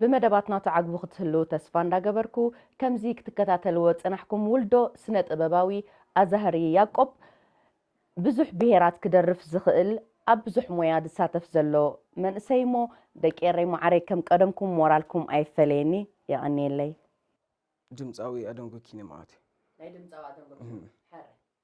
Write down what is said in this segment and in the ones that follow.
ብመደባትና ትዓግቡ ክትህልዉ ተስፋ እንዳገበርኩ ከምዚ ክትከታተልዎ ዝጸናሕኩም ውልዶ ስነ ጥበባዊ ኣዛህሪ ያቆብ ብዙሕ ብሄራት ክደርፍ ዝኽእል ኣብ ብዙሕ ሞያ ዝሳተፍ ዘሎ መንእሰይ እሞ ደቂ ኤረይ መዓረይ ከም ቀደምኩም ሞራልኩም ኣይፈለየኒ የቀንየለይ። ድምጻዊ ኣደንጉኪ ንመዓት። ናይ ድምጻዊ ኣደንጎኪ ሕረ።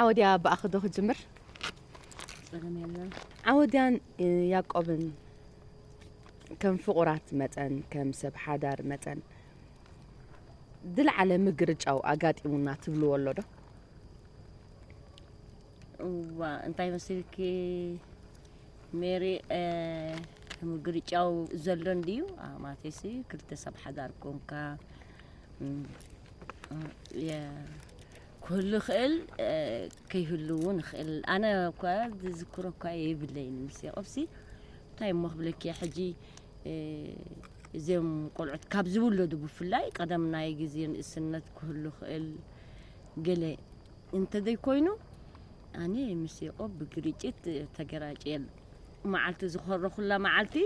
ዓወድያ ብኣኺ ዶ ክጅምር? ዓወድያን ያቆብን ከም ፍቑራት መጠን ከም ሰብ ሓዳር መጠን ዝለዓለ ምግርጫው ኣጋጢሙና ትብልዎ ኣሎ ዶ? እዋ እንታይ መስልኪ ሜሪ ምግርጫው ዘሎ እንድዩ ማቴሲ ክልተ ሰብ ሓዳር ኮንካ ክህሉ ይኽእል ከይህሉ እውን ይኽእል ኣነ እኳ ዝዝክሮ እኳ የብለይን ምስ የቕብሲ እንታይ እሞ ክብለኪ ሕጂ እዚኦም ቆልዑት ካብ ዝውለዱ ብፍላይ ቀደም ናይ ግዜ ንእስነት ክህሉ ይኽእል ገለ እንተዘይኮይኑ ኣነ ምስ የቆብ ብግርጭት ተገራጭየ መዓልቲ ዝኾረኹላ መዓልቲ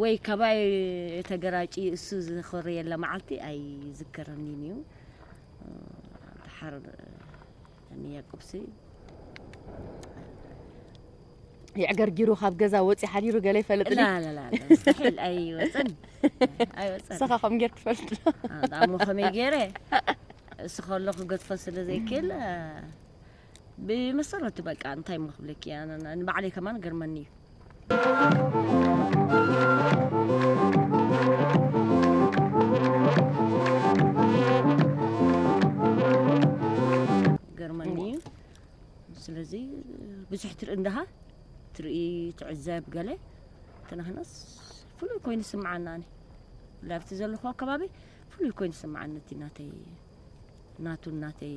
ወይ ካባይ ተገራጭ እሱ ዝኾረየላ መዓልቲ ኣይዝከረኒን እዩ ሓር ንያቁብሲ የዕገርጊሩ ካብ ገዛ ወፂ ሓዲሩ ገለ ይፈልጥ ላላላስሒል ኣይወፅን ኣይወፅን ንስኻ ከም ጌር ትፈልጥ ዳሞ ከመይ ገይረ እሱ ከሎ ክገድፎ ስለ ዘይክእል ብመሰረቱ በቃ እንታይ እሞ ክብለኪ ንባዕለይ ከማን ገርመኒ እዩ ገርመኒ እዩ ስለዚ ብዙሕ ትርኢ እንዳሃ ትርኢ ትዕዘብ ገለ ተናህናስ ፍሉይ ኮይኑ ስምዓና ኣነ ላብቲ ዘለኹ ኣከባቢ ፍሉይ ኮይኑ ስምዓኒ እቲ ናተይ ናቱ ናተይ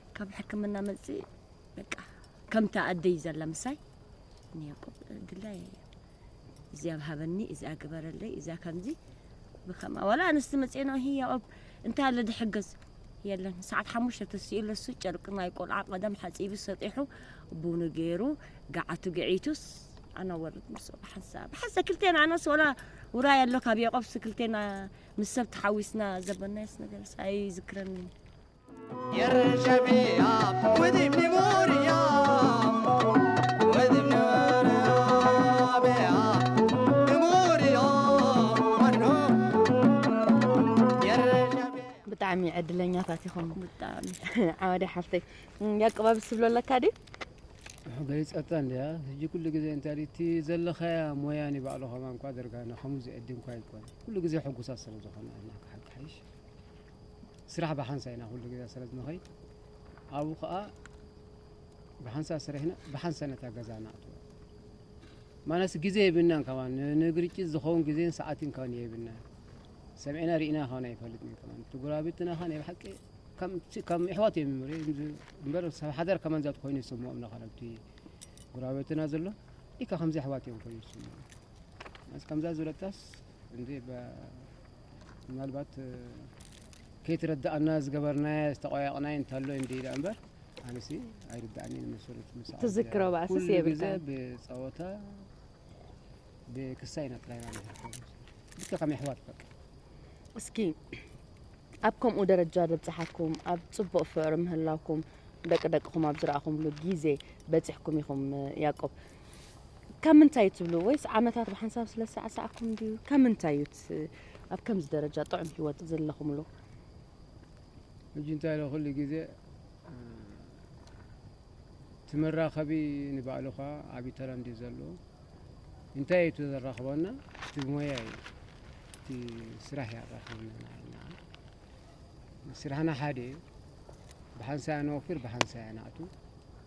ካብ ሕክምና መጽ በቃ ከምታ ኣደይ ዘላ ምሳይ ንያቆብ ድላይ እዚኣ ሃበኒ እዚኣ ግበረለይ እዚኣ ከምዚ ብከማ ዋላ ኣንስቲ መፅኤ ነው ይሄ ያቆብ እንታይ ኣለ ድሕገዝ የለን ሰዓት ሓሙሽተ ተስኡ ለሱ ጨርቂ ናይ ቆልዓ ቀደም ሓፂቡ ሰጢሑ ቡኑ ገይሩ ገዓቱ ገዒቱስ ኣና ወርድ ምስ ብሓንሳ ብሓንሳ ክልቴና ኣነስ ወላ ውራይ ኣሎ ካብ ያቆብስ ክልቴና ምስ ሰብ ተሓዊስና ዘበናየስ ነገርስ ኣይዝክረንን ብጣዕሚ ዕድለኛታት ኢኹም ብጣዕሚ ዓዋደ ሓፍተይ ያቅባብ ስብሎ ኣለካ ድዩ ገሊፀታ እንዲያ ሕጂ ኩሉ ግዜ እንታይ እቲ ዘለኻያ ሞያ ንባዕሉ ከማን እኳ ኣደርጋና ከምኡ ዝዕድም እኳ ኣይኮነ ኩሉ ግዜ ሕጉሳት ስለ ዝኾና ኣለካ ሓቂ ሓይሽ ስራሕ ብሓንሳእ ኢና ኩሉ ግዜ ስለ ንኸይድ ኣብኡ ከኣ ብሓንሳእ ስረሕና ብሓንሳእ ነታ ገዛ ንኣትዋ ማለስ ግዜ የብልናን ከማ ንግርጭት ዝኸውን ግዜን ሰዓትን ከ የብልና ሰምዕና ርኢና ከውን ኣይፈልጥ ከ ትጉራቤትና ከ ናይ ብሓቂ ከም ኣሕዋት እዮም ምር እምበር ሰብ ሓደር ከመን ዛት ኮይኑ ይስምኦም ናኸረብቲ ጉራቤትና ዘሎ ኢካ ከምዚ ኣሕዋት እዮም ኮይኑ ይስምኦም ከምዛ ዝበለታስ እንዴ ምናልባት ከይትረዳእና ዝገበርናዮ ዝተቆያቕናዮ እንተሎ እንዲ ኢላ እምበር ኣነሲ ኣይርዳእኒ መሰረት ትዝክሮ ባእስስ የብልካ ብፀወታ ብክሳይ ኢና ጥራይና ልክ ከም ኣሕዋት በቃ እስኪ ኣብ ከምኡ ደረጃ ዘብፅሓኩም ኣብ ፅቡቅ ፍቅሪ ምህላውኩም ደቂ ደቅኹም ኣብ ዝረኣኹምሉ ግዜ በፂሕኩም ኢኹም ያቆብ ካብ ምንታይ ትብሉ ወይስ ዓመታት ብሓንሳብ ስለ ዝሰዓሰዓኩም ድዩ ካብ ምንታይ እዩ እቲ ኣብ ከምዚ ደረጃ ጥዑም ሂወት ዘለኹምሉ ሕጂ እንታይ ኢለ ኩሉ ግዜ እ፣ እቲ መራኸቢ ንባዕሉ ኸዓ ዓብዪ ተራ እንድዩ ዘለዎ እንታይ እዩ እቲ ዘራኽበና እቲ ሞያ እዩ እቲ ስራሕ እዩ ኣራኽበና ንዓና ስራሕና ሓደ እዩ ብሓንሳእ ኢና ንወፍር ብሓንሳእ ኢና ነኣቱ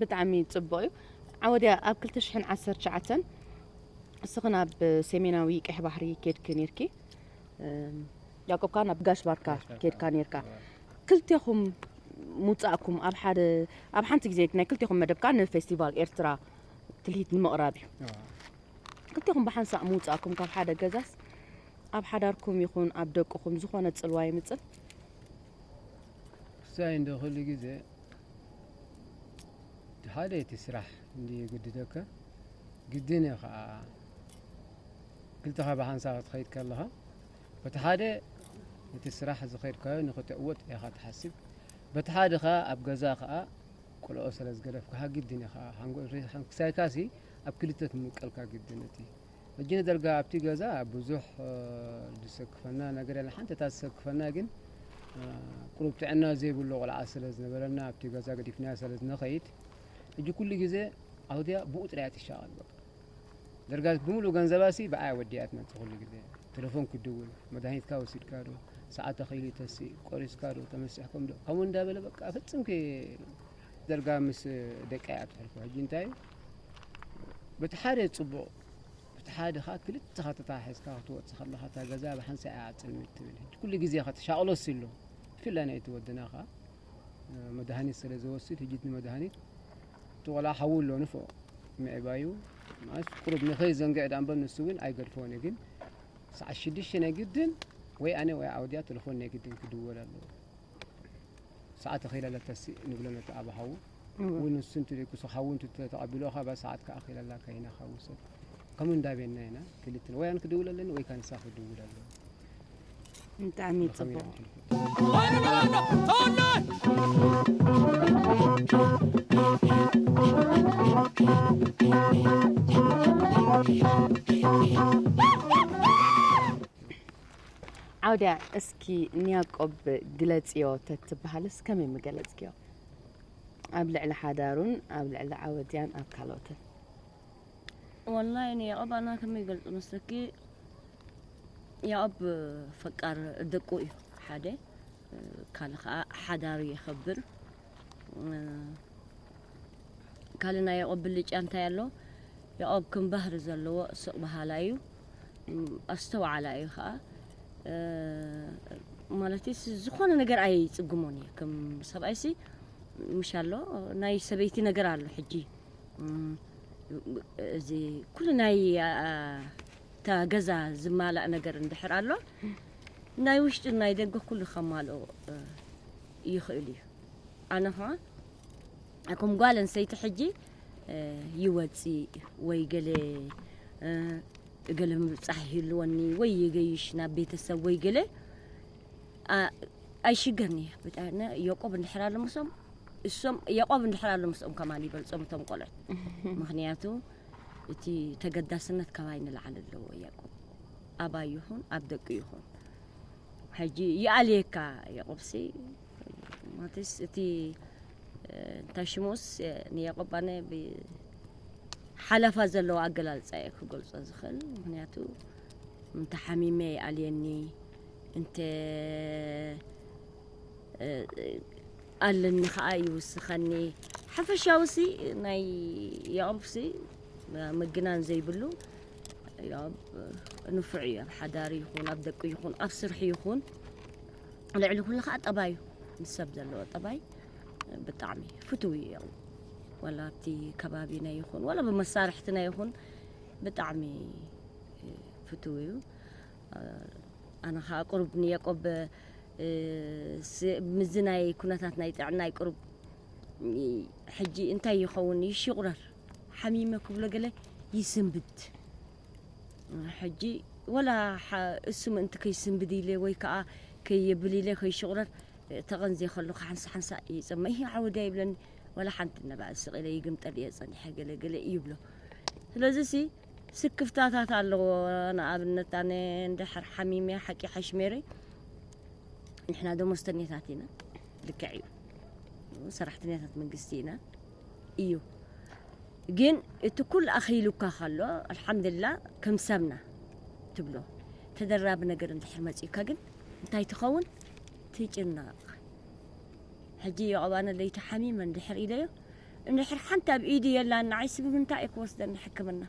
ብጣዕሚ ጽቡቅ እዩ ዓወድያ ኣብ 219 እስኽን ኣብ ሰሜናዊ ቀሕ ባሕሪ ኬድኪ ነርኪ ያቆብ ካን ኣብ ጋሽ ባርካ ኬድካ ነርካ ክልቴኹም ምውጻእኩም ኣብ ሓደ ኣብ ሓንቲ ግዜ ናይ ክልቴኹም መደብ ከዓ ንፌስቲቫል ኤርትራ ትልሂት ንምቕራብ እዩ ክልቴኹም ብሓንሳእ ምውጻእኩም ካብ ሓደ ገዛስ ኣብ ሓዳርኩም ይኹን ኣብ ደቅኹም ዝኾነ ጽልዋ የምጽእ ክሳይ እንዶ ኩሉ ግዜ ሓደ እቲ ስራሕ እንዲ የገድደካ ግድን እዩ ከዓ ክልተኻ ብሓንሳብ ክትኸይድ ከለኻ በቲ ሓደ እቲ ስራሕ ዝኸድካዮ ንክትዕወት ኢኻ ትሓስብ በቲ ሓደ ከዓ ኣብ ገዛ ከዓ ቆልኦ ስለ ዝገደፍካኻ ግድን ኢኻ ሓንጎል ክሳይካሲ ኣብ ክልተ ትምቀልካ ግድን እቲ ሕጂ ንደርጋ ኣብቲ ገዛ ብዙሕ ዝሰክፈና ነገር የለን። ሓንቲ እታ ዝሰክፈና ግን ቅሩብ ጥዕና ዘይብሉ ቆልዓ ስለ ዝነበረና ኣብቲ ገዛ ገዲፍናያ ስለ ዝንኸይድ ሕጂ ኩሉ ግዜ ኣውድያ ብኡ ጥራያ ትሻቐል በቃ ደርጋት ብምሉእ ገንዘባሲ ብኣያ ወዲያ ትመፅእ ኩሉ ግዜ ቴሌፎን ክድውል መድሃኒትካ ወሲድካ ዶ ሰዓት ተኸይሉ ተሲ ቆሪስካ ዶ ተመሲሕኩም ዶ ከምኡ እንዳበለ በቃ ፍፅምኪ ደርጋ ምስ ደቂ እያ ትሕልፎ ሕጂ እንታይ በቲ ሓደ ጽቡቕ በቲ ሓደ ከዓ ክልተ ኸተታ ሒዝካ ክትወጽእ ከለኻ እታ ገዛ ብሓንሳእ እያ ኣጽልሚ ትብል ሕጂ ኩሉ ግዜ ከተሻቕሎስ ኣሎ ብፍላይ ናይቲ ወድና ከዓ መድሃኒት ስለ ዝወስድ ሕጂ እቲ መድሃኒት እቲ ቆልዓ ሓዊ ኣሎ ንፍኦ ምዕባዩ ማለት ቁሩብ ንኸይ ዘንግዕ ዳኣ እምበር ንሱ እውን ኣይገድፎን እዩ ግን ሰዓት ሽዱሽተ ናይ ግድን ወይ ኣነ ወይ ዓውድያ ተለፎን ናይ ግድን ክድወል ኣለዎ ሰዓት ተኺኢላ ለተሲ ንብሎ ነቲ ኣብ ሓዉ ውን ንሱ እንት ደይኩስ ኻብ ውን ትቶ ተቐቢሎ ኻብ ሰዓት ክኣኺል ኣላ ካይና ኻብ ውሰድ ከምኡ እንዳቤና ኢና ክልትን ወይ ኣን ክድውል ኣለኒ ወይ ካ ንሳ ክድውል ኣለኒ ብጣዕሚ ዓውድያ እስኪ ንያቆብ ግለጽዮ ተትበሃልስ ከመይ ምገለጽክዮ ኣብ ልዕሊ ሓዳሩን ኣብ ልዕሊ ዓወትያን ኣብ ካልኦትን ወላሂ ንያቆብ ኣና ከመይ ገልጹ መስለኪ ያቆብ ፈቃር ደቁ እዩ ሓደ ካልእ ከዓ ሓዳሩ የኸብር ካልእ ናይ ያቆብ ብልጫ እንታይ ኣሎ ያቆብ ከም ባህሪ ዘለዎ ስቕ በሃላይ እዩ ኣስተውዓላ እዩ ከኣ ማለት ዝኾነ ነገር ኣይፅግሞን እዩ ከም ሰብኣይሲ ምሽ ኣሎ ናይ ሰበይቲ ነገር ኣሎ ሕጂ እዚ ኩሉ ናይ እታ ገዛ ዝማላእ ነገር እንድሕር ኣሎ ናይ ውሽጢ ናይ ደገ ኩሉ ከማልኦ ይኽእል እዩ ኣነ ኸዓ ከም ጓል ኣንስተይቲ ሕጂ ይወጽእ ወይ ገለ ገለ ምብጻሕ ይህልወኒ ወይ ይገይሽ ናብ ቤተሰብ ወይ ገለ ኣይሽገርኒ ብጣዕሚ የቆብ እንድሕር ኣሎ ምስኦም እሶም የቆብ እንድሕር ኣሎ ምስኦም ከማን ይበልጾም እቶም ቆልዑት ምክንያቱ እቲ ተገዳስነት ካባይ ንላዓል ኣለዎ የቆብ ኣባይ ይኹን ኣብ ደቂ ይኹን ሕጂ ይኣልየካ የቆብሲ ማለትስ እቲ እንታይ ሽሙስ ንያቆብ ኣነ ሓለፋ ዘለዎ ኣገላልፃ እየ ክገልፆ ዝኽእል ምክንያቱ እንተ ሓሚመ ይኣልየኒ እንተ ኣለኒ ከዓ ይውስኸኒ ሓፈሻዊ ሲ ናይ ያቆብ ሲ ምግናን ዘይብሉ ያቆብ ንፉዕ እዩ ኣብ ሓዳር ይኹን ኣብ ደቂ ይኹን ኣብ ስርሑ ይኹን ልዕሊ ኩሉ ከዓ ጠባዩ ምስ ሰብ ዘለዎ ጠባይ ብጣዕሚ ፍትው እዩ ያው ወላ ኣብቲ ከባቢና ይኹን ወላ ብመሳርሕትና ይኹን ብጣዕሚ እ፣ ፍትው እዩ ኣነ ከዓ ቅሩብ ንየቆብ እ፣ ስ- ምስዚ ናይ ኩነታት ናይ ጥዕናይ ቅሩብ እ፣ ሕጂ እንታይ ይኸውን ይሽቑረር ሓሚመ ክብሎ ገለ ይስንብድ ሕጂ ወላ እሱ ምእንቲ ከይስንብድ ኢለ ወይ ከዓ ከየብል ኢለ ከይሽቑረር ተቐንዜ ከሎ ሓንሳ ሓንሳ ይፅመ ይህ ዓወድያ ይብለኒ ወላ ሓንቲ ነባዕ ስቕ ኢለ ይግምጠል እየ ፀኒሐ ገለ ገለ ይብሎ ስለዚ ሲ ስክፍታታት ኣለዎ ንኣብነት ኣነ እንድሕር ሓሚመ ሓቂ ሓሽሜረ ንሕና ደሞዝተኛታት ኢና ልክዕ እዩ ሰራሕተኛታት መንግስቲ ኢና እዩ ግን እቲ ኩሉ ኣኺሉካ ከሎ ኣልሓምድላ ከም ሰብና ትብሎ ተደራቢ ነገር እንድሕር መፅዩካ ግን እንታይ ትኸውን ትጭነቕ ሕጂ የቐባነ ለይቲ ሓሚመ እንድሕር ኢለዮ እንድሕር ሓንቲ ኣብ ኢዱ የላን ንዓይ ስብ ምንታይ እዩ ክወስደኒ ሕክምና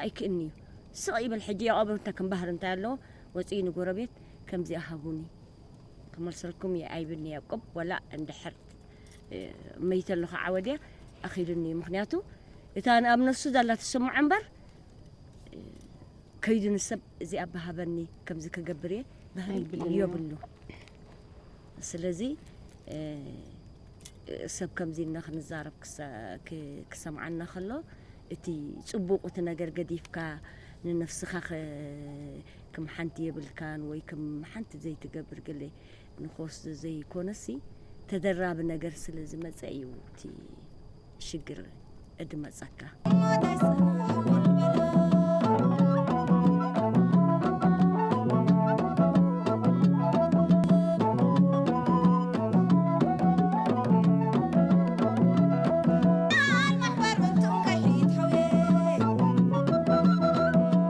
ኣይክእልኒ እዩ ስቕ ይብል ሕጂ የቐብር እንታይ ከም ባህሪ እንታይ ኣለዎ ወፅኡ ንጎረቤት ከምዚኣ ሃቡኒ ክመልሰልኩም እየ ኣይብልኒ ያቆብ ወላ እንድሕር መይተ ኣለኹ ዓወድያ ኣኺሉኒ እዩ ምክንያቱ እታ ኣብ ነፍሱ ዘላ ትስምዖ እምበር ከይዱ ንሰብ እዚ ኣባሃበኒ ከምዚ ክገብር እየ ባህሪ የብሉ ስለዚ ሰብ ከምዚ እና ክንዛረብ ክሰምዓና ከሎ እቲ ፅቡቅ እቲ ነገር ገዲፍካ ንነፍስኻ ክም ሓንቲ የብልካን ወይ ክም ሓንቲ ዘይትገብር ገለ ንኮስ ዘዘይኮነሲ ተደራቢ ነገር ስለ ዝመጸ እዩ እቲ ሽግር እድመጸካ።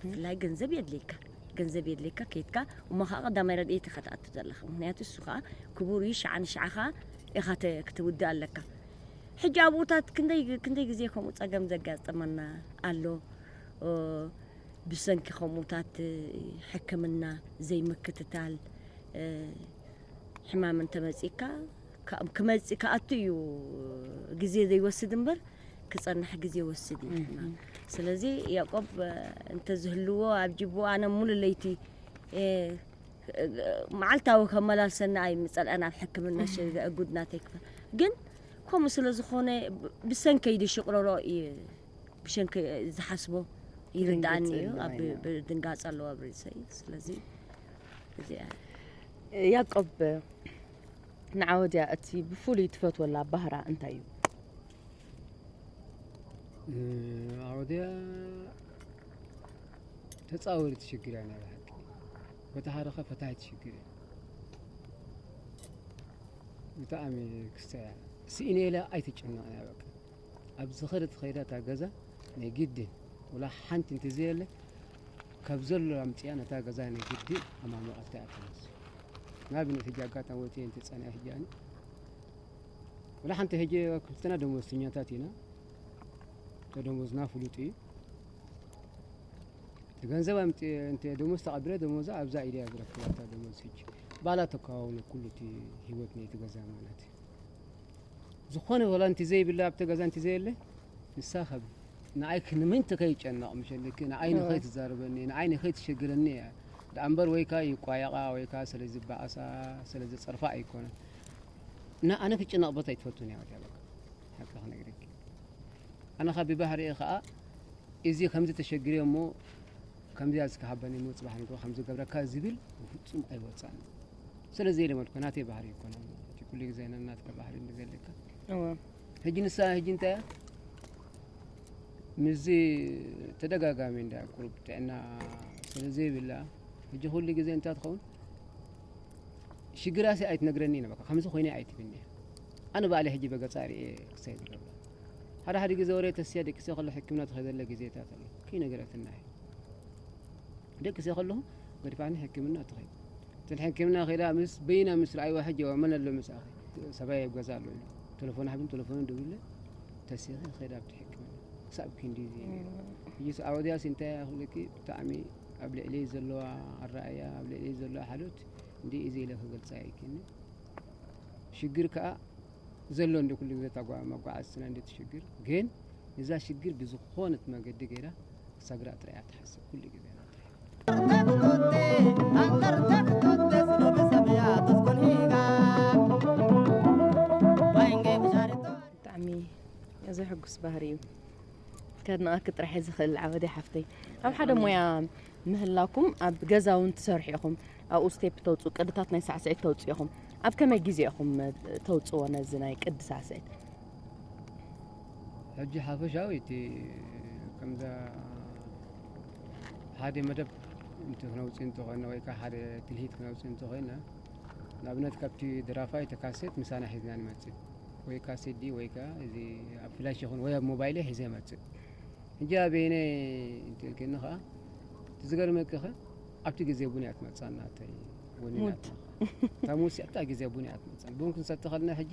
ብፍላይ ገንዘብ የድልየካ ገንዘብ የድልየካ ከይትካ እሞ ከዓ ቀዳማይ ረድኤት ኢኻ ትኣቱ ዘለኻ ምክንያቱ እሱ ከዓ ክቡር እዩ ሸዓ ንሸዓ ከዓ ኢኻ ክትውድእ ኣለካ ሕጂ ኣብኡታት ክንደይ ክንደይ ግዜ ከምኡ ፀገም ዘጋጠመና ኣሎ ብሰንኪ ከምኡታት ሕክምና ዘይምክትታል ሕማም እንተመፂካ ክመፅእ ክኣቱ እዩ ግዜ ዘይወስድ እምበር ክጸንሕ ግዜ ይወስድ እዩ ድማ ስለዚ ያቆብ እንተዝህልዎ ኣብ ጅቡ ኣነ ሙሉ ለይቲ መዓልታዊ ከመላልሰና ኣይ ምጸልአን ኣብ ሕክምና ሸጋ እጉድ ናተይ ክፈ ግን ከምኡ ስለ ዝኾነ ብሰንከይ ድሽቕረሮ እዩ ብሸንከ ዝሓስቦ ይርዳእኒ እዩ ኣብ ድንጋጸ ኣለዎ ኣብ ርእሰይ ስለዚ እዚኣ ያቆብ ንዓወድያ እቲ ብፍሉይ ትፈትወላ ባህራ እንታይ እዩ? ዓወድያ ተፃወሪ ትሽግር እያ ናይ ብሓቂ በቲ ሓደ ከ ፈታሂ ትሽግር እያ ብጣዕሚ ክስተ እያ ስኢነ ኢላ ኣይትጨነቕ እያ በቃ ኣብ ዝኸደት ኸይዳ እታ ገዛ ናይ ግድን ወላ ሓንቲ እንተዘየለ ካብ ዘሎ ኣምጺኣ ነታ ገዛ ናይ ግዲ ኣማሞቐታ እያ ተመስ ንኣብነት ሕጂ ኣጋጣሚ ወትየ እንተ ጸኒኣ ሕጂ ኣነ ወላ ሓንቲ ሕጂ ክልተና ደሞዝተኛታት ኢና ተደሞዝና ፍሉጥ እዩ ገንዘብ እንተ ደሞዝ ተቐቢለ ደሞዛ ኣብዛ ኢደ እያ ዝረክባ እታ ደሞዝ ሕጂ ባላ ተከዋውነ ኩሉ እቲ ህይወት ናይቲ ገዛ ማለት እዩ ዝኾነ ወላ እንቲ ዘይብላ ኣብቲ ገዛ እንቲ ዘየለ ንሳ ካብ ንኣይ ክንምንት ከይጨነቕ ምሸልኪ ንኣይ ንኸይትዛርበኒ ንኣይ ንኸይትሸግረኒ እያ ደኣምበር ወይካ ይቋየቓ ወይካ ስለ ዝበኣሳ ስለ ዝጸርፋ ኣይኮነን እና ኣነ ክጭነቕ ቦታ ኣይትፈቱን እያ ወትያ በቃ ሓቂ ክነግረኪ ኣነ ካብ ብባህሪኤ ከዓ እዚ ከምዚ ተሸግሬ እሞ ከምዚያ ዝከሃበኒ እሞ ፅባሕ ንግሮ ከም ዝገብረካ ዝብል ብፍፁም ኣይወፃን ስለዚ ኢለ መልኩ ናተይ ባህሪ ይኮነ ኩሉ ግዜ ነናትካ ባህሪ እንደዘለካ ሕጂ ንሳ ሕጂ እንታይ እያ ምስዚ ተደጋጋሚ እንዳ ቁሩብ ጥዕና ስለ ዘይብላ ሕጂ ኩሉ ግዜ እንታይ ትኸውን ሽግራሲ ኣይትነግረኒ ኢና በቃ ከምዚ ኮይነ ኣይትብኒ እያ ኣነ ባዕለ ሕጂ በገፃ ርእየ ክሳይ ዝገብራ ሓደ ሓደ ግዜ ወረ ተስያ ደቂሰ ከሎ ሕክምና ትኸደለ ግዜታት ኣሎ ከይነገረትና እያ ደቂሰ ከለኹ ገድፋኒ ሕክምና ትኸይድ እቲ ሕክምና ከይዳ ምስ በይና ምስ ረኣይዋ ሕጂ ዋ መን ኣሎ ምስኣኺ ሰብኣይ ኣብ ገዛ ኣሎ ኢሉ ቴለፎን ሓብን ቴለፎንን ደውለ ተሲኺ ከይዳ ኣብቲ ሕክምና ክሳብ ክንዲ እዚ ነይሩ ሕጂ ኣወዲያሲ እንታይ ክብለኪ ብጣዕሚ ኣብ ልዕሊ ዘለዋ ኣረኣያ ኣብ ልዕሊ ዘለዋ ሓሎት እንዲ እዚ ኢለ ክገልፃ ይክኒ ሽግር ከዓ ዘሎ እንደ ኩሉ ግዜ መጓዓዝትና እንደ ትሽግር ግን እዛ ሽግር ብዝኾነት መገዲ ገይራ ክሳግራ ጥራያ ትሓስብ ኩሉ ግዜ ብጣዕሚ ዘሕጉስ ባህሪ እዩ ከድንቃኪ ጥራሕ እየ ዝኽእል ዓወደይ ሓፍተይ ኣብ ሓደ ሞያ ምህላኩም ኣብ ገዛ እውን ትሰርሑ ኢኹም ኣብኡ ስቴፕ ተውፅኡ ቅድታት ናይ ሳዕስዒት ተውፅኡ ኢኹም ኣብ ከመይ ግዜ ኢኹም ተውፅዎ ነዚ ናይ ቅዲ ሳዕስዒት ሕጂ ሓፈሻዊ እቲ ከምዛ ሓደ መደብ እንቲ ክነውፅእ እንተኾይና ወይ ከዓ ሓደ ትልሂት ክነውፅእ እንተኾይና ንኣብነት ካብቲ ድራፋይ ተካሴት ምሳና ሒዝና ንመፅእ ወይ ከዓ ሲዲ ወይ ከዓ እዚ ኣብ ፍላሽ ይኹን ወይ ኣብ ሞባይለ ሒዘ መፅእ ሕጂ ኣበይነ እንትልክኒ ከዓ እቲ ዝገርመኪ ከ ኣብቲ ግዜ ቡን እያ ትመፅኣና እተይ ወኒናታ እታ ሙስ እታ ግዜ ቡን እያ ትመፅኣና ቡን ክንሰቲ ከለና ሕጂ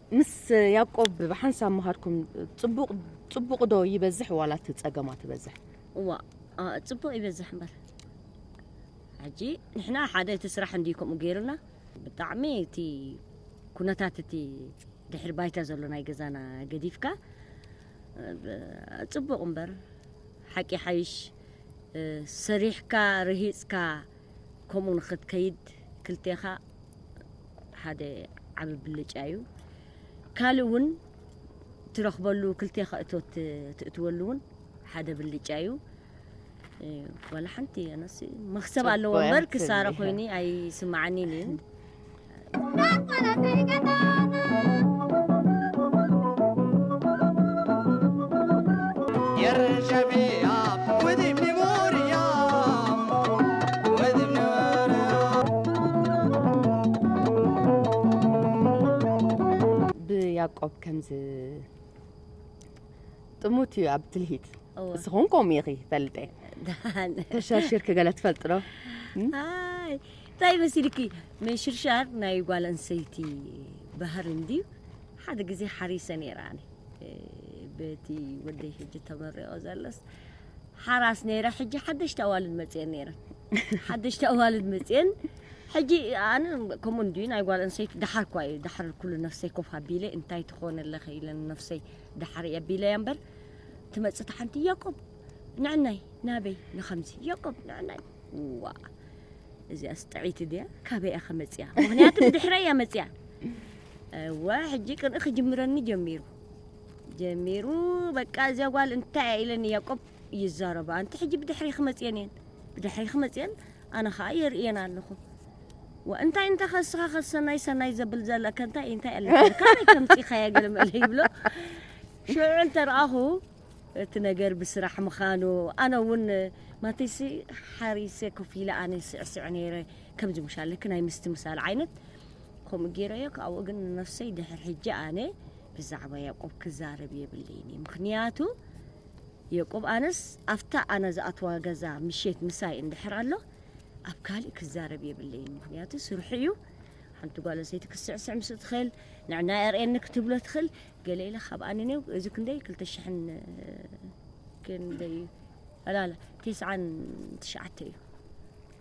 ምስ ያቆብ ብሓንሳብ ምሃርኩም ጽቡቅ ጽቡቅ ዶ ይበዝሕ ዋላ እቲ ጸገማ ትበዝሕ እዋ ጽቡቅ ይበዝሕ እምበር ሕጂ ንሕና ሓደ እቲ ስራሕ እንድዩ ከምኡ ገይሩና ብጣዕሚ እቲ ኩነታት እቲ ድሕሪ ባይታ ዘሎ ናይ ገዛና ገዲፍካ ጽቡቅ እምበር ሓቂ ሓይሽ ሰሪሕካ ርሂጽካ ከምኡ ንክትከይድ ክልቴኻ ሓደ ዓቢ ብልጫ እዩ ካልእ እውን ትረኽበሉ ክልቴኻ እቶት ትእትወሉ እውን ሓደ ብልጫ እዩ ዋላ ሓንቲ ኣነሲ መክሰብ ኣለዎ እምበር ክሳረ ኮይኒ ኣይስማዓኒን እዩ ብያቆብ ከም ጥሙት እዩ ኣብ ትልሂት እስኹን ከምኡ ኢኺ ፈልጠ ተሸርሽርኪ ገለ ትፈልጥ ዶ ኣይ እንታይ መሲልኪ ምንሽርሻር ናይ ጓል ኣንሰይቲ ባህሪ እንድዩ ሓደ ግዜ ሓሪሰ ነይረ ኣነ በቲ ወደይ ሕጂ ተመሪቖ ዘሎስ ሓራስ ነይረ ሕጂ ሓደሽቲ ኣዋልድ መጽየን ነይረን ሓደሽቲ ኣዋልድ መጽየን ሕጂ ኣነ ከምኡ እንድዩ ናይ ጓል ኣንሰይቲ ደሓር እኳ እዩ ደሓር ኩሉ ነፍሰይ ኮፍ ኣቢለ እንታይ ትኾነ ኣለኺ ኢለ ነፍሰይ ደሓር እየ ኣቢለያ እምበር ትመጽእ እታ ሓንቲ ያቆብ ንዕናይ ናበይ ንኸምዚ ያቆብ ንዕናይ ዋ እዚኣስ ጥዒቲ ድያ ካበይ እያ ከመፅያ ምክንያቱ ብድሕረ እያ መፅያ እወ ሕጂ ቅንኢ ክጅምረኒ ጀሚሩ ጀሚሩ በቃ እዚኣ ጓል እንታይ እያ ኢለን ያቆብ ይዛረባ ኣንቲ ሕጂ ብድሕሪኺ መፅየን እየን ብድሕሪኺ መፅየን ኣነ ከዓ የርእየን ኣለኹ እንታይ እንተ ከስኻ ከሰናይ ሰናይ ዘብል ዘለከ እንታይ እንታይ ኣለካ ካበይ ከምፂኻያ ገለ መለ ይብሎ ሽዑ እንተረኣኹ እቲ ነገር ብስራሕ ምዃኑ ኣነ እውን ማተይሲ ሓሪሰ ኮፍ ኢለ ኣነ ስዕስዕ ነይረ ከምዚ ምሻለክ ናይ ምስትምሳል ዓይነት ከምኡ ገይረዮ ካብኡ ግን ነፍሰይ ድሕር ሕጂ ኣነ ብዛዕባ ያቆብ ክዛረብ የብለይን እየ ምክንያቱ የቆብ ኣነስ ኣፍታ ኣነ ዝኣትዋ ገዛ ምሼት ምሳይ እንድሕር ኣሎ ኣብ ካልእ ክዛረብ የብለይን ምክንያቱ ስርሑ እዩ ሓንቲ ጓል ኣንስተይቲ ክስዕስዕ ምስ ትኽእል ንዕና የርእየኒ ክትብሎ ትኽእል ገለ ኢለ ካብ ኣንኔው እዚ ክንደይ ክልተ ሽሕን ክንደይ ኣላላ ቴስዓን ትሽዓተ እዩ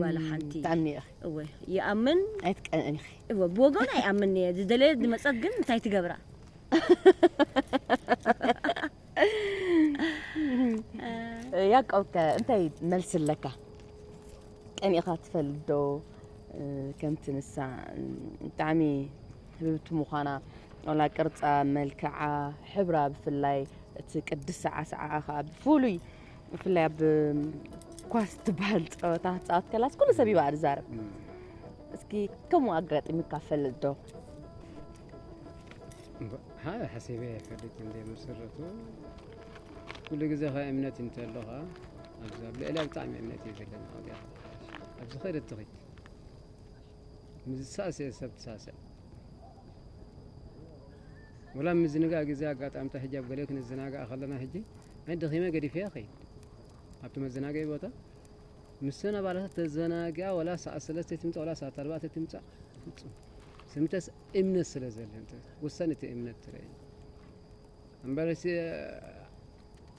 ዋላ ሓንቲ ብጣዕሚ እየ እወ ይኣምን ኣይትቀንእን ኢኺ እወ ብወገኑ ኣይኣምን እየ ዝደለየ ዝመፀት ግን እንታይ ትገብራ ያዕቆብ ከ እንታይ መልሲ ኣለካ ቀኒእኻ ትፈልጥ ዶ ከምቲ ንሳ ብጣዕሚ ህብብቲ ምዃና ዋላ ቅርፃ መልክዓ ሕብራ ብፍላይ እቲ ቅድስ ሰዓሰዓኣ ከዓ ብፍሉይ ብፍላይ ኣብ ኳስ ትበሃል ፀወታ ክትፃወት ከላስ ኩሉ ሰብ ይባእ ዝዛረብ እስኪ ከምኡ ኣጋጢሙ ካፈል ዶ ሓደ ሓሲበ ይፈልጥ እንደ መሰረቱ ኩሉ ግዜ ከ እምነት እንተለኻ ኣብዚ ኣብ ልዕሊያ ብጣዕሚ እምነት እዩ ዘለኒ ኣብዚ ኸደ ትኽት ምስ ዝሳእስኤ ሰብ ትሳሰዕ ወላ ኣብ ምዝንጋዕ ግዜ ኣጋጣምታ ሕጂ ኣብ ገለ ክንዘናጋዕ ከለና ሕጂ ኣይ ደኺመ ገዲፈያ ኸይድ ኣብቲ መዘናገዒ ቦታ ምሰን ኣባላታት ተዘናጊኣ ወላ ሰዓት ሰለስተ ትምፃእ ወላ ሰዓት ኣርባዕተ ትምፃእ ፍፁም ስምተስ እምነት ስለ ዘለን ወሳኒ እቲ እምነት ትረአ እምበር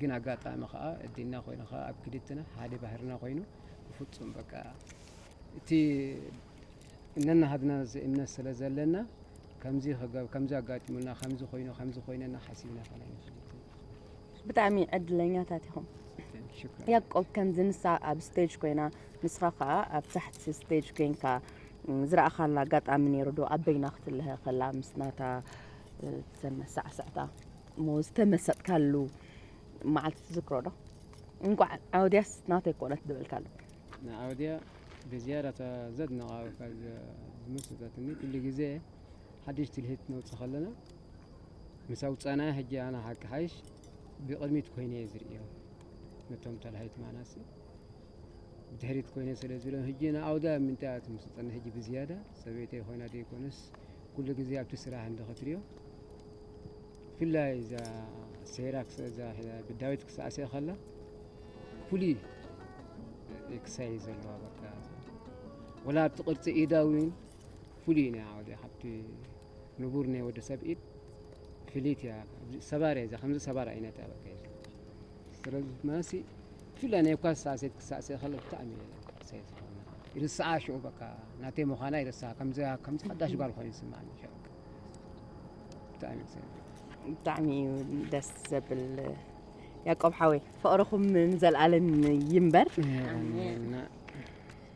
ግን ኣጋጣሚ ከኣ እዲና ኮይኑ ከኣ ኣብ ክልትና ሓደ ባህርና ኮይኑ ብፍጹም በቃ እቲ እነናሃድና እምነት ስለ ዘለና ከምዚ ክገብ ከምዚ ኣጋጢሙና ከምዚ ኮይኑ ከምዚ ኮይነና ሓሲብና ከና ንፈልጥን ብጣዕሚ ዕድለኛታት ኢኹም ሽኩር ያቆብ ከምዚ ንሳ ኣብ ስቴጅ ኮይና ንስኻ ከዓ ኣብ ታሕቲ ስቴጅ ኮይንካ እም፣ ዝረኣኻላ ኣጋጣሚ ነይሩ ዶ ኣብ በይና ክትልሀ ከላ ምስ ናታ እ፣ እተን ሳዕሳዕታ እሞ ዝተመሰጥካሉ መዓልቲ ትዝክሮ ዶ እንቋዕ ዓወድያስ ናተይ ኮነት ዝበልካሉ ንዓወድያ ብዝያዳ ዘድንቓ ዝመሰጠትኒ ኩሉ ግዜ ሓድሽ ትልሂት ነውፅ ከለና ምስ ኣውፃናያ ሕጂ ኣና ሓቂ ሓይሽ ብቕድሚት ኮይነ እየ ዝርእዮ ነቶም ተላሂት ማናሲ ብድሕሪት ኮይነ ስለ ዝብሎም ሕጂ ንኣውዳ ምንታይ እያ ትምስጠኒ ሕጂ ብዝያዳ ሰበይተይ ኮይና ደይኮነስ ኩሉ ግዜ ኣብቲ ስራሕ እንዶ ክትሪኦ ብፍላይ እዛ ሰይራ እዛ ብዳዊት ክሳዕስዕ ከላ ፍሉይ ክሳይ ዘለዋ በቃ ወላ ኣብቲ ቅርፂ ኢዳ እውን ፍሉይ ናይ ዓወደ ካብቲ ንቡር ናይ ወዲ ሰብ ኢድ ፍልይቲ እያ ሰባር እያ እዛ ከምዚ ሰባር ዓይነት እያ በቃ ስለዚ ማሲ ብፍላይ ናይ እኳ ሳሴት ክሳእሰ ይኸል ብጣዕሚ ሰይ ዝኾነ ይርስዓ ሽኡ በቃ ናተይ ምዃና ይርስዓ ከምዚ ከምዚ ሓዳሽ ጓል ኮይኑ ይስምዓኒ ሽዑ ብጣዕሚ ሰይ ብጣዕሚ እዩ ደስ ዘብል ያቆብ ሓወይ ፍቕርኹም ንዘለኣለም ይንበር ኣሜን።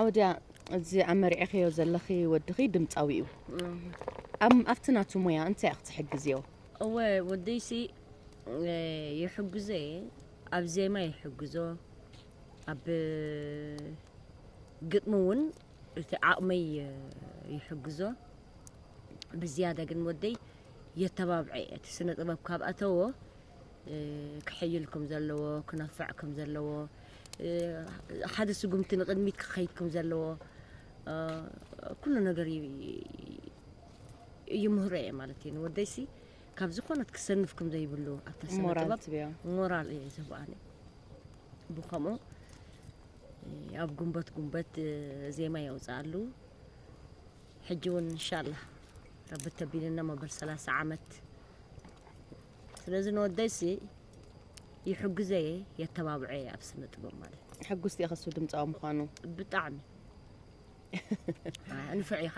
ዓወድያ እዚ ኣብ መርዒኽዮ ዘለኺ ወድኺ ድምፃዊ እዩ ኣብቲ ናቱ ሞያ እንታይ ኢኽ ትሕግዝዮ እወ ወደይሲ ይሕግዞ እየ ኣብ ዜማ ይሕግዞ ኣብ ግጥሚ እውን እቲ ዓቕመይ ይሕግዞ ብዝያዳ ግን ወደይ የተባብዐ እቲ ስነ ጥበብ ካብ ኣተዎ ክሕይል ከም ዘለዎ፣ ክነፍዕ ከም ዘለዎ፣ ሓደ ስጉምቲ ንቕድሚት ክኸይድ ከም ዘለዎ ኩሉ ነገር ይምህሮ እየ ማለት እዩ ንወደይሲ ካብ ዝኾነት ክሰንፍ ከም ዘይብሉ ኣብታ ስነጥበብ ሞራል እየ ዝህቦ ኣነ ብከምኡ ኣብ ጉንበት ጉንበት ዜማ የውፅኣሉ ሕጂ እውን እንሻላ ረቢ ተቢልና መበል ሰላሳ ዓመት ስለዚ ንወደይሲ ይሕግዘየ የተባብዐየ ኣብ ስነ ጥበብ ማለት ሕጉስቲ እየ ከሱ ድምፃዊ ምዃኑ ብጣዕሚ ንፍዕ ኢኻ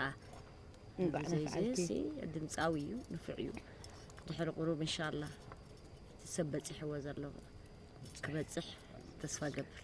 ዘይዘይሲ ድምፃዊ እዩ ንፍዕ እዩ ድሕሪ ቁሩብ እንሻላ ሰብ በፂሕዎ ዘሎ ክበፅሕ ተስፋ ገብር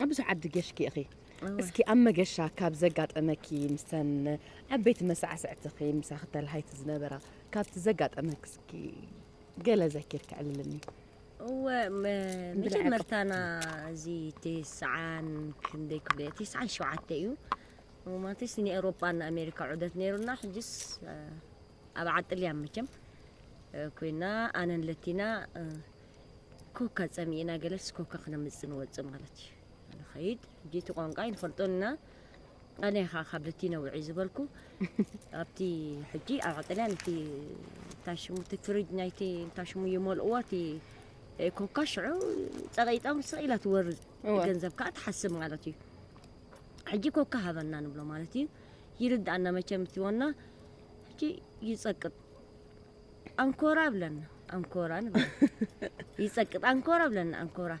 ኣብ ብዙሕ ዓዲ ጌሽኪ ኢኺ እስኪ ኣብ መገሻ ካብ ዘጋጠመኪ ምሰን ዓበይቲ መሳዕስዕትኺ ምሳኺ ተልሃይቲ ዝነበራ ካብቲ ዘጋጠመኪ እስኪ ገለ ዘኪርኪ ዕልልኒ እወ መጀመርታና እዚ ትስዓን ክንደይ ክብሎ እየ ትስዓን ሸውዓተ እዩ ማለትስ ንኤውሮጳ ንኣሜሪካ ዑደት ነይሩና ሕጅስ ኣብ ዓጥልያ መቸም ኮይና ኣነን ለቲና ኮካ ጸሚእና ገለስ ኮካ ክነምጽእ ንወጽእ ማለት እዩ ንኸይድ ሕጂ እቲ ቋንቋ ኣይንፈልጦን ኢና ኣነ ኸዓ ካብ ለቲና ውዒ ዝበልኩ ኣብቲ ሕጂ ኣብ ዓጥልያ ነቲ እንታይ ሽሙ እቲ ፍሪጅ ናይቲ እንታይ ሽሙ ይመልእዎ እቲ ኮካ ሽዑ ጸቂጣ ውስቕ ኢላ ትወርድ እወ። ገንዘብ ከዓ ትሓስብ ማለት እዩ ሕጂ ኮካ ሃበና ንብሎ ማለት እዩ ይርድኣና መቸም እቲ ወና ሕጂ ይጸቅጥ ኣንኮራ ብለና ኣንኮራ ንብል ይጸቅጥ ኣንኮራ ብለና ኣንኮራ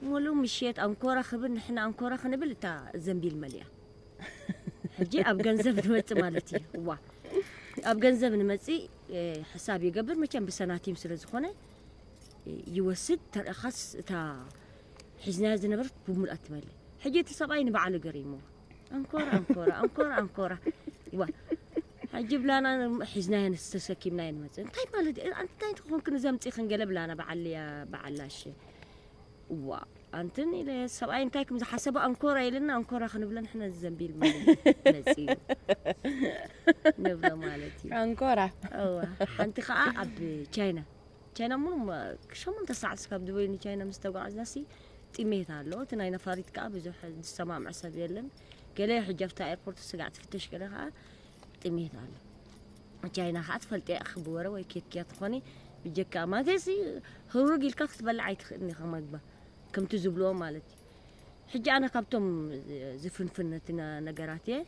ሙሉ ምሽት ኣንኮራ ክብል ንሕና ኣንኮራ ክንብል እታ ዘንቢል መሊኣ ሕጂ ኣብ ገንዘብ ንመጽእ ማለት እዩ እዋ ኣብ ገንዘብ ንመጽእ ሕሳብ ይገብር መቸም ብሰናቲም ስለ ዝኾነ ይወስድ ተርኢኻስ እታ ሒዝናያ ዝነበረት ብምሉኣ ትመልእ ሕጂ እቲ ሰብኣይ ንባዕሉ ገሪምዎ ኣንኮራ ኣንኮራ ኣንኮራ ኣንኮራ ዋ ሕጂ ብላና ሒዝናዮ ተሰኪምናዮ ንመፅእ እንታይ ማለት እዩ እንታይ ትኾንክን እዚ ኣምፂኽን ገለ ብላና በዓል በዓል ኣሸ እዋ ኣንትን ኢለ ሰብኣይ እንታይ ከም ዝሓሰበ ኣንኮራ ኢልና ኣንኮራ ክንብለ ንሕና ዘንቢል መፅ እዩ ንብሎ ማለት እዩ ኣንኮራ እዋ ሓንቲ ከዓ ኣብ ቻይና ቻይና ሙሉ ሸሞንተ ሰዓት ስካብ ዱበይ ንቻይና ምስ ተጓዕዝናሲ ጥሜት ኣሎ እቲ ናይ ነፋሪት ከዓ ብዙሕ ዝሰማምዕ ሰብ የለን ገለ ሕጂ ኣብታ ኤርፖርት ስጋዕ ትፍተሽ ገለ ከዓ ጥሜት ኣሎ ቻይና ከዓ ትፈልጠ ኢኺ ብወረ ወይ ኬትኪያ ትኾኒ ብጀካ ማለትሲ ህሩግ ኢልካ ክትበልዕ ኣይትኽእልን ኢኻ መግባ ከምቲ ዝብልዎ ማለት እዩ ሕጂ ኣነ ካብቶም ዝፍንፍን ነቲ ነገራት እየ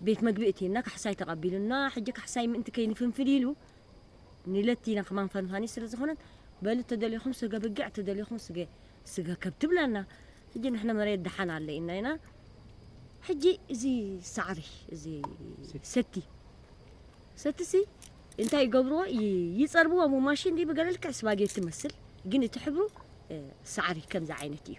ቤት መግቢ እቲና ካሕሳይ ተቐቢሉና፣ ሕጂ ካሕሳይ ምእንቲ ከይንፍንፍል ኢሉ ንለቲና ከማን ፈንፋኒ ስለ ዝኾነት በሉ ተደሊኹም ስገ ብጊዕ ተደሊኹም ስገ ስገ ከብቲ ብላና። ሕጂ ንሕና መሬት ደሓን ኣለ ኢልና ኢና። ሕጂ እዚ ሳዕሪ እዚ ሰቲ ሰቲሲ እንታይ ይገብርዎ ይጸርብዎ ሞ ማሽን ድዩ ብገለ ልክዕ ስባጌቲ መስል ግን እቲ ሕብሩ ሳዕሪ ከምዚ ዓይነት እዩ።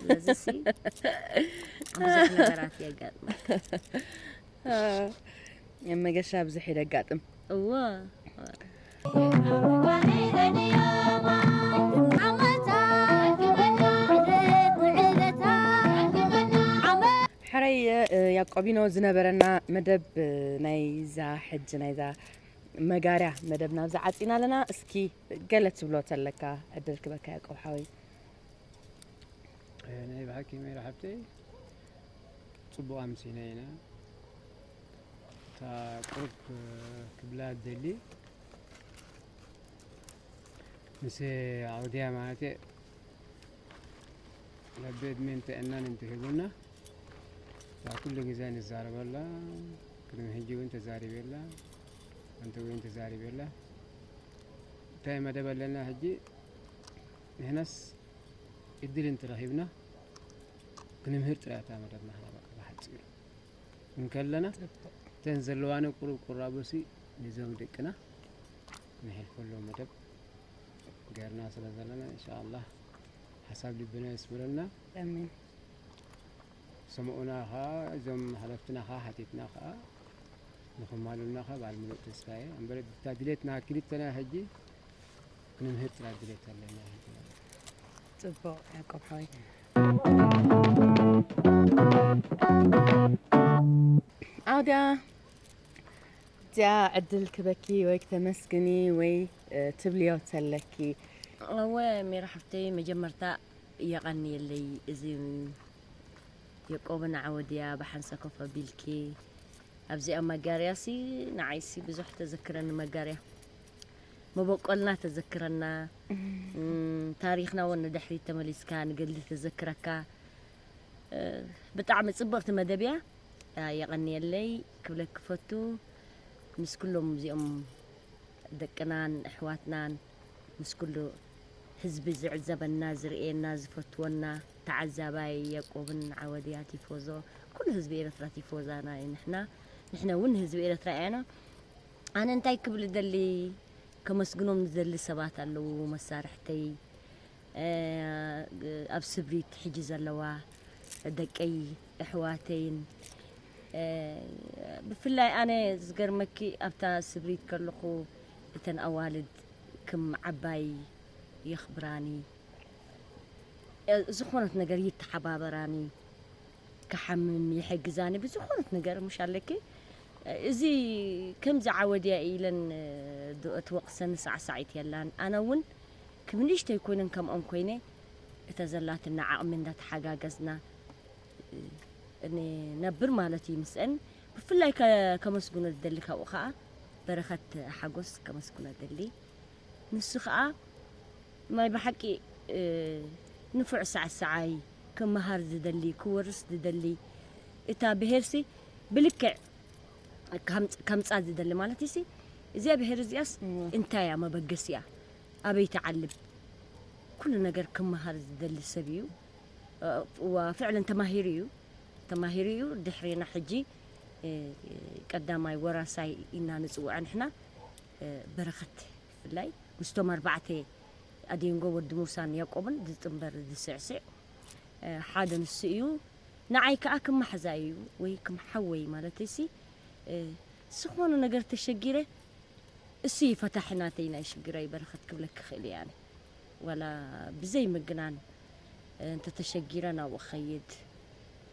ስለዚህ ብዙሕ ነገራት የጋጥም መገሻ ብዙሕ የጋጥም እዎ ሕረይ ያቆቢኖ ዝነበረና መደብ ናይዛ ሕጂ ናይዛ መጋርያ መደብ ናብዚ ዓፂና ኣለና እስኪ ገለ ትብሎ ተለካ ዕድል ክበካ ያቆብ ሓወይ ናይ ብሓቂ ሜራ ሓብተይ ፅቡቕ ኣምሲና ኢና እታ ቁርብ ክብላ ደሊ ምስ ዓውድያ ማለት ለቤ ዕድሜን ጥዕናን እንትህቡና እታ ኩሉ ግዜ ንዛረበላ ቅድሚ ሕጂ እውን ተዛሪበላ ኣንቲ እውን ተዛሪበላ እንታይ መደብ ኣለና ሕጂ ንሕናስ ዕድል እንተረኺብና ክንምህር ጥራይ እታ መደብና ኸኣ በቃ ብሓጺሩ እንከለና እተን ዘለዋኒ ቁሩብ ቁራቦሲ ንዞም ደቅና ንሕልፈሎም መደብ ገርና ስለ ዘለና ኢንሻኣላህ ሓሳብ ልብና የስምረልና ኣሜን ሰምኡና ኸኣ እዞም ሓለፍትና ኸኣ ሓቲትና ኸኣ ንኽማሉልና ኸ በዓል ምሉእ ተስፋ እየ እምበር እታ ድሌትና ክልተና ሕጂ ክንምህር ጥራይ ድሌት ኣለና ጽቡቅ ያቆብ ሓወይ ኣውዳ እዚኣ ዕድል ክበኪ ወይ ክተመስግኒ ወይ ትብልዮ ተለኪ እወ ሜራ ሓፍተይ መጀመርታ የቐንየለይ እዚ የቆብን ዓወድያ ብሓንሳ ኮፍ ኣቢልኪ ኣብዚኣ መጋርያሲ ንዓይሲ ብዙሕ ተዘክረኒ መጋርያ መበቆልና ተዘክረና ታሪክና ውን ንድሕሪት ተመሊስካ ንገድሊ ተዘክረካ ብጣዕሚ ጽብቕቲ መደብ እያ የቐንየለይ ክብለክ ክፈቱ ምስ ኩሎም እዚኦም ደቅናን ኣሕዋትናን ምስ ኩሉ ህዝቢ ዝዕዘበና ዝርእየና ዝፈትወና ተዓዛባይ ያቆብን ዓወድያ ቲፎዞ ኩሉ ህዝቢ ኤረትራ ቲፎዛና እዩ ንሕና ንሕነ እውን ህዝቢ ኤረትራ እያና ኣነ እንታይ ክብል እደሊ ከመስግኖም ዝደሊ ሰባት ኣለዉ መሳርሕተይ ኣብ ስብሪት ሕጂ ዘለዋ ደቀይ እሕዋተይን ብፍላይ ኣነ ዝገርመኪ ኣብታ ስብሪት ከለኹ እተን ኣዋልድ ክም ዓባይ የኽብራኒ ዝኾነት ነገር ይተሓባበራኒ ክሓምም ይሕግዛኒ ብዝኾነት ነገር ሙሽ ኣለኪ እዚ ከምዚ ዓወት እያ ኢለን ዶ እቲ ወቅሰን ሳዕሳዒት የላን ኣነ እውን ክም ንእሽተይ ኮይነን ከምኦም ኮይነ እተ ዘላትና ዓቅሚ እንዳተሓጋገዝና ን ነብር ማለት እዩ ምስእን ብፍላይ ከመስግኖ ዝደሊ ካብኡ ከኣ በረከት ሓጎስ ከመስግኖ እደሊ ንሱ ከኣ ናይ ብሓቂ ንፉዕ ሳዕሳዓይ ክመሃር ዝደሊ ክወርስ ዝደሊ እታ ብሄርሲ ብልክዕ ከምጻ ዝደሊ ማለት ሲ እዚኣ ብሄር እዚኣስ እንታይ እያ መበገሲኣ ኣበይ ትዓልብ ኩሉ ነገር ክመሃር ዝደሊ ሰብ እዩ ፍዕለን ተማሂሩ እዩ ተማሂሩ እዩ ድሕሪና ሕጂ ቀዳማይ ወራሳይ ኢና ንጽውዐ ንሕና በረኸት ብፍላይ ምስቶም ኣርባዕተ ኣዲንጎ ወዲ ሙሳን ያቆብን ዝጥምበር ዝስዕስዕ ሓደ ንሱ እዩ ንዓይ ከኣ ከም ማሕዛይ እዩ ወይ ከም ሓወይ ማለተይሲ ዝኾነ ነገር ተሸጊረ እሱ እዩ ፈታሒ ናተይ ናይ ሽግራይ በረኸት ክብለኪ ክእል እየ ኣነ ዋላ ብዘይ ምግናን እንተተሸጊረ ናብኡ ኸይድ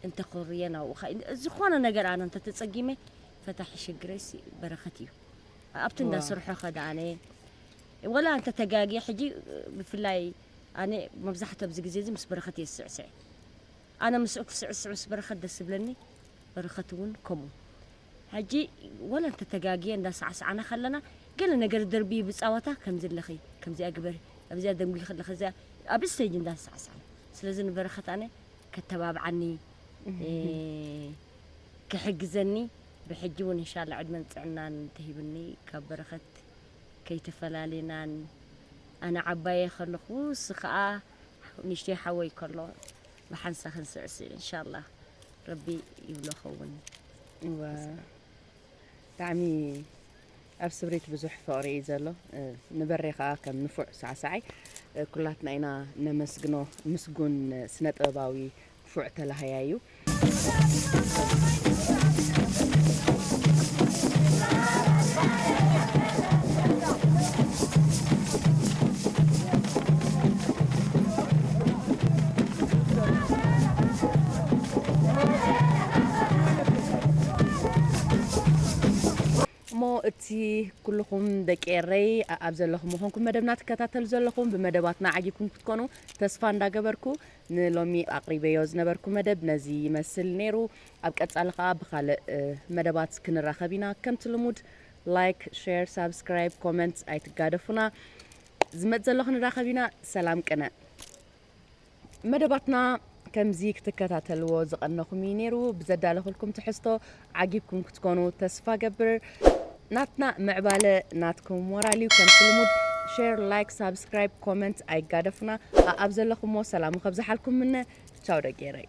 እንተኾርየ ናብኡ ዝኾነ ነገር ኣነ እንተተጸጊመ ፈታሒ ሽግረይሲ በረኸት እዩ ኣብቲ እንዳ ስርሖ ከ ዳኣ ኣነ ወላ እንተ ተጋግየ ሕጂ ብፍላይ ኣነ መብዛሕትኡ ኣብዚ ግዜ እዚ ምስ በረኸት እየ ዝስዕስዕ ኣነ ምስኡ ክስዕስዕ ምስ በረኸት ደስ ዝብለኒ በረኸት እውን ከምኡ ሕጂ ወላ እንተ ተጋግየ እንዳ ሳዕሳዕና ከለና ገለ ነገር ደርቢ ብጻወታ ከምዚ ኣለኺ ከምዚኣ ግበሪ ኣብዚኣ ደንጉይ ከለኺ እዚኣ ኣብ ስተጅ እንዳ ሳዕሳዕና ስለዚ ንበረኸት ኣነ ከተባብዓኒ ክሕግዘኒ ብሕጂ ውን እንሻላ ዕድመን ጥዕናን እንተሂብኒ ካብ በረከት ከይተፈላሊና ን ኣነ ዓባየ ከለኩ ንሱ ከኣ ንእሽተይ ሓወይ ከሎ ብሓንሳ ክንስዕስዕ እንሻላ ረቢ ይብሎ ከውን። እወ ብጣዕሚ ኣብ ስብሪት ብዙሕ ፍቅሪ እዩ ዘሎ ንበሬ ከኣ ከም ንፉዕ ሳዕሳዓይ ኩላትና ኢና ነመስግኖ ምስጉን ስነ ጥበባዊ ንፉዕ ተላሃያይ እዩ። እቲ ኩልኹም ደቂ ኤረይ ኣብ ዘለኹም ኮንኩም መደብና ትከታተሉ ዘለኹም ብመደባትና ዓጊብኩም ክትኮኑ ተስፋ እንዳገበርኩ ንሎሚ ኣቕሪበዮ ዝነበርኩ መደብ ነዚ ይመስል ነይሩ። ኣብ ቀጻሊ ከኣ ብኻልእ መደባት ክንራኸብ ኢና። ከምቲ ልሙድ ላይክ፣ ሼር፣ ሳብስክራይብ፣ ኮመንት ኣይትጋደፉና። ዝመጽእ ዘሎ ክንራኸብ ኢና። ሰላም ቅነ። መደባትና ከምዚ ክትከታተልዎ ዝቐነኹም እዩ ነይሩ። ብዘዳለኹልኩም ትሕዝቶ ዓጊብኩም ክትኮኑ ተስፋ ገብር ናትና ምዕባለ ናትኩም ሞራል ዩ ከምቲ ልሙድ ሼር ላይክ ሳብስክራይብ ኮመንት ኣይጋደፉና ኣኣብ ዘለኹሞ ሰላሙ ከብዝሓልኩም ምነ ቻው ደጌረይ